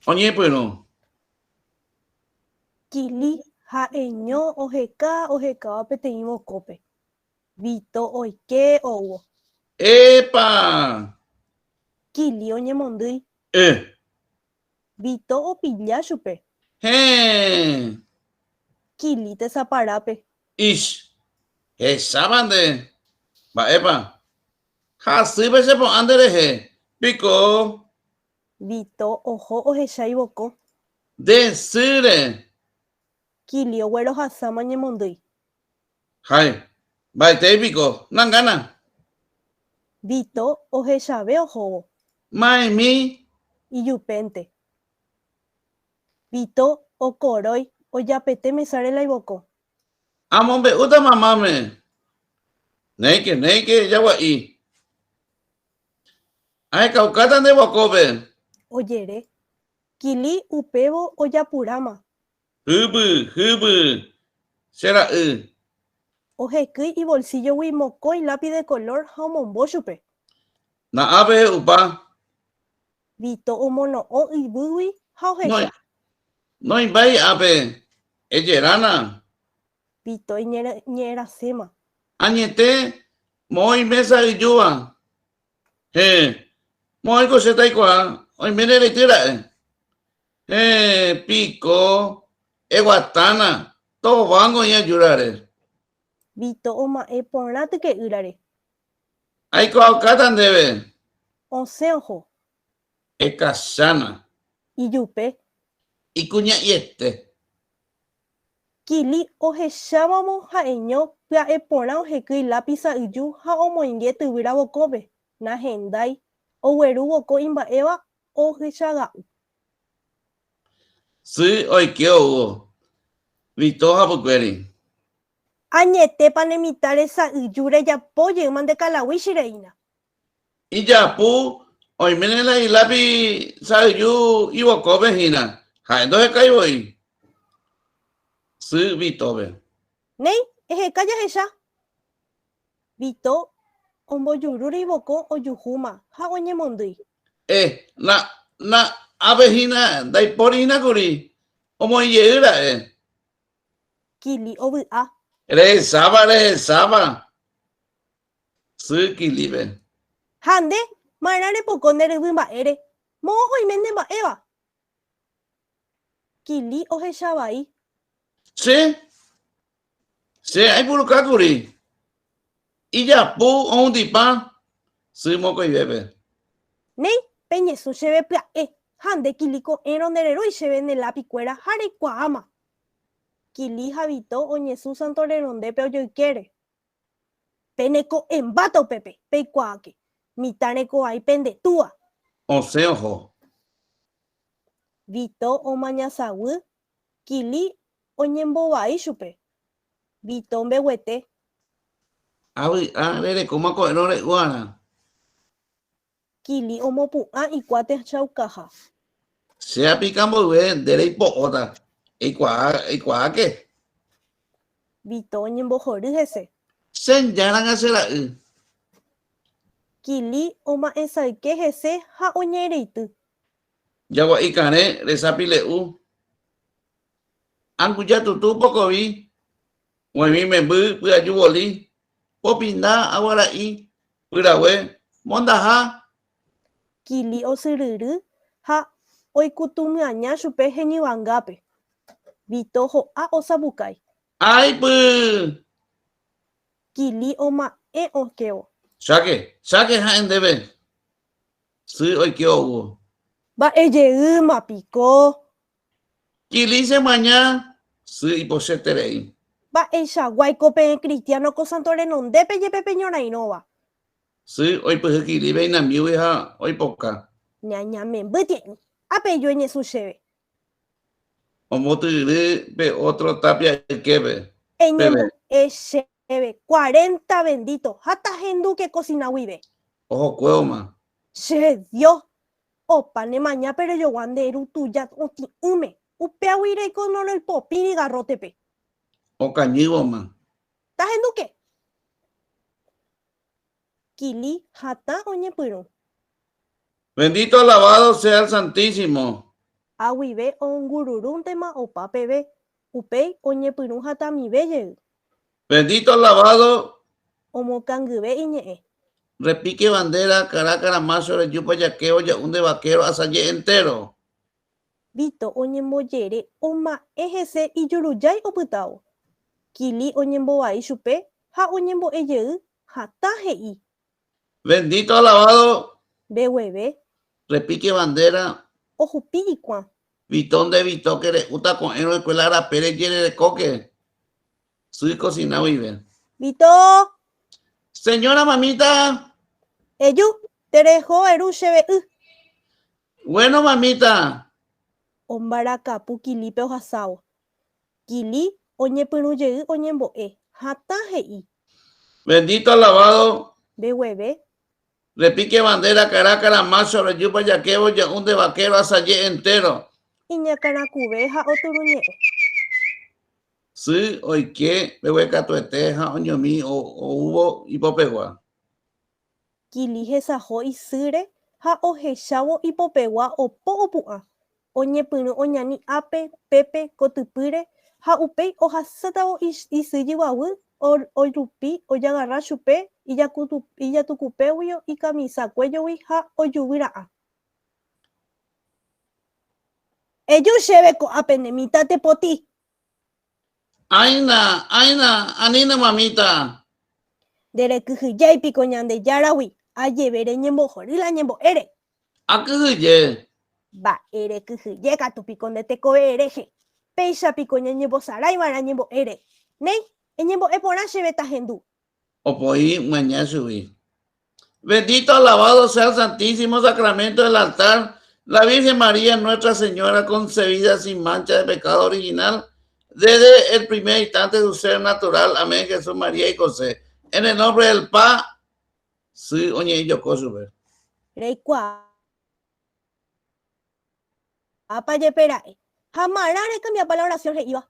Oñepyrũ. Kili ha Eño oheka ohekáva peteĩ vokópe. Vito oike oúvo. Epa! Kili oñemondýi. E. Vito opilla chupe. Héẽ. Kili tesaparápe. Ish. Hechápa nde. Mba'épa. Ha asýpe che po'ã nderehe. Piko. Vito oho ohecha ivoko. Nde sýre. Kilio guerohasáma ñemondýi. Hay, mba'etéi piko, nangana. Vito ohechave ohóvo. Ma'ẽmi. Ijupénte. Vito okorói ojapete mesáre la ivoko. Amombe'úta mamáme. Néike, néike jagua'i. Ahekaukáta nde guakópe. Ojere. Kili upévo ojapuráma. Hyby, hyby, che ra'y. Ohekýi ivolsíllogui mokõi lápi de kolór ha omombo chupe. Na'ã pehe'upa. Vito omono'õ yvýgui ha ohecha. Noĩ mba'éi ápe. Ejerana. Vito iñe'ẽraséma. Añete, moõi mésa ijúva. Héẽ, moõiko che taikuaa, oime ne rejy ra'e. Héẽ, piko, eguatána, továngo oĩ ajúrare. Vito oma'ẽ porã tyke'ýrare. Aikuaaukáta ndéve. Osẽ oho. Ekachána. Ijupe. Ikuña'iete. Kili ohechávamo ha'eño pya'e porã ohekýi lápisa yju ha omoinge tyvyra vokópe, nahendái, ogueru voko imba'éva ohychaga'u. Sy oike ou. Vito ha pykuéri. Añetépa ne mitã resa yju rejapo jeýma nde kalaguíchi reína. Ijapu oiméne la ilápi sa'yju ivokópe hína, ha'e ndohekái voi sy Vítove. Néi, eheka jahecha. Vito ombojurúre ivoko ojuhúma ha oñemondýi. Eh, na, na, ápe hína ndaipóri hína kuri, omoĩ jey ra'e. Kili ovy'a. Rehesáva, rehesáva. Sy Kilive. Ha nde, marã repoko nde ryvy mba'ére, moõ oime nde mba'éva. Kili ohecha vai. Che, che aipuruka kuri. Ijapu oundipã sy mokõivépe. Néi, peñesũ chéve pya'e. Ha nde, Kili ko'ẽrõ nde rerói chéve ne lápi kuéra ha reikuaáma. Kili ha Vito oñesũ Santo Renondépe ojoykére. Pene ko'ẽmbáta upépe, peikuaáke. Mitã reko ai pende túa. Osẽ oho. Vito omañasaguy, Kili oñembovai chupe. Vito mbeguete. Avy'a rerekóma ko'ẽrõ re'úarã. Kili omopu'ã ikua tehchaukaha. Che apika mboyve nde reipo'óta. Eikuaa, eikuaáke. Vito oñembohory hese. Che njáranga che ra'y. Kili oma'ẽsayke hese ha oñe'ẽreity. Jagua'i karẽ resa pile'u. Anguja tutu pokovi, g̃uaig̃ui memby pyaju voli, Popinda aguara'i pyrague mondaha. Kili osyryry ha oikutũmyaña chupe heñyvangápe. Vito ho'a osapukái. Aipy! Kili oma'ẽ okévo. Cháke, cháke ha'e ndéve. Sy oike oúvo. Mba'ejeýma piko Kilice maña sy ipochyeterei. Mba'eichaguáiko peẽ kristiáno ko santo renondépe jepe peñorairõva. Sy oipyhy Kilive inambígui ha oipoka. Ñañamemby tie'ỹ. Ha pejue Ñesu chéve. Ombotyry pe ótro tápia yképe. Eñembo'e chéve cuarenta vendíto ha tahendúke kosina guive. Ohokuévoma. Che Dios, Opa, ne maña pe rejogua nde ru tuja otĩ'ỹme, upéagui reiko nonoel popĩri garrótepe. Okañývoma. Tahenduke! Kili hatã oñepyrũ. Bendito alabado sea el Santísimo. Ha guive oongururúntema opa peve, upéi oñepyrũ hatãmive jey. Bendito alabado. Omokangyve iñe'ẽ. Repique bandera Caracas Ramácho reju pajakévo ja'u nde vaquero asaje entéro. Vito oñembojere oma'ẽ hese ijurujái opytávo. Kili oñembovai chupe ha oñembo'e jey hatã he'i Bendito alabado. Mbegueve. Repique bandera. Ohupi hikuã. Vito nde Vito que re'úta ko'ẽrõ escuela arapére jererekóke sy cocina guive. Vito. Señora mamita. Eju, tereho eru che ve'y. Bueno mamita. Ombarakapu kilipe ohasávo. Kili oñepyrũ jey oñembo'e, hatã he'i. Bendito alabado. Nde gueve. Repique bandera caracara macho rejúpa jaquevo ja'u nde vaquero asaje entero. Iñakãrakuve ha oturuñe'ẽ. Sy oike mbeguekatuete ha oñomi oúvo ipopegua. Kili hesaho isýre ha ohechávo ipopegua opo opu'ã, oñepyrũ oñani ápe, pépe, kotypýre, ha upéi ohasátavo isy jyguaguy orupi ojagarra chupe ijatukupégui ikamisa kuéjogui ha ojuvy ra'ã. Eju chéve ko'ápe ne mitãte potĩ, Áina, áina, anína mamita. Nde rekyhyjái piko Ñandejáragui, ajeve reñembohory la ñembo'ére. Akyhyje. Mba'e rekyhyje katu piko nde tekovee rehe, péicha piko ñañembosarái va'erã ñembo'ére. Néi, eñembo'e porã chéve tahendu, Opo'i maña chugui. Bendito, alabado sea el santísimo sacramento del altar, la Virgen María, Nuestra Señora, concebida sin mancha de pecado original, desde el primer instante de su ser natural, amén, Jesús, María y José, en el nombre del Pa, sí, oñe yo cosube. Reikua, apa yepe ra'e, ha marã recambiapa la oración he'iva.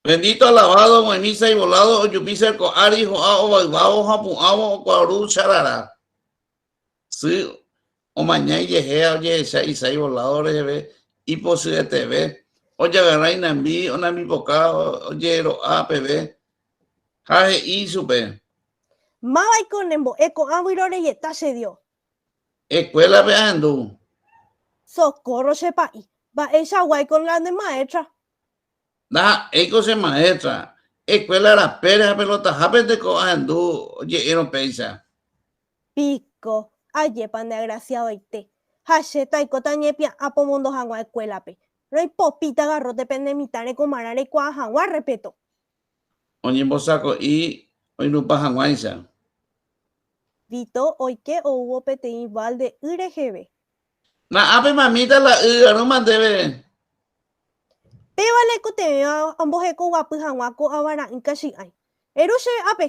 Bendito alabado omoĩmísa ivolado ojupísa ko ári ho'a ovayvávo ha pu'ãvo okuaru charara sy omaña ijehe ha ojehecha isa ivolado reheve ipochyeteve ojagarra inambi onambipoka ojero'a peve ha he'i ichupe. Mávaiko ne mbo'e ko'ã vyroreieta che Dios. Escuela-pe ahendu. Socorro che pa'i. Mba'eicha guáiko la ne maestra. Ndaha'éiko che maestra, escuela rapére ha pelotahápente ko ahendu oje'érõ péicha. Piko, ajépa ndeagraciadoite. Ha che taikóta ñepia'ã pomondo hag̃ua escuélape. Roipopíta garrote pene mitã rekomarã reikuaa hag̃ua respeto. Oñembosako'i oinupã hag̃uáicha. Vito oike oúvo peteĩ balde y reheve. Na'ápe mamíta la y arũma ndéve. Péva la ikotevẽva amboheko guapy haguã ko ava ra'ỹ kachi'ãi. Eru chéve ápe.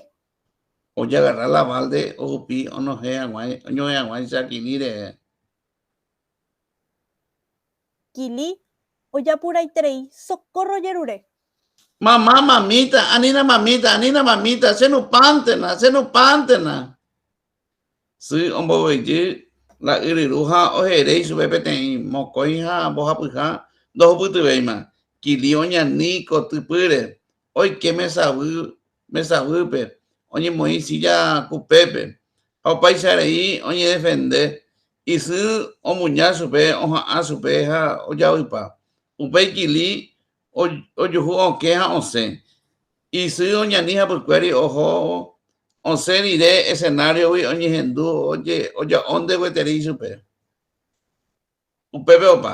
Ojagarra la balde ohupi onohẽ haguã, oñohẽ haguãicha Kili rehe. Kili, ojapuraiterei, socorro jerure. Mamá, mamíta, anína mamíta, anína mamíta, che nupántena, che nupántena. Sy ombovyjy la yryru ha ohere ichupe peteĩ mokõi ha mbohapyha ndohupytyvéima. Kili oñani kotypýre, oike mesavy mesavýpe, oñemoĩ sílla kupépe ha opaichareĩ oñedefende. Isy omuña chupe oha'ã chupe ha ojavypa. Upéi Kili Ojuhu okẽ ha osẽ. Isy oñani hapykuéri oho osẽ rire escenario-gui oñehendu oja'ónte gueteri ichupe. Upépe opa.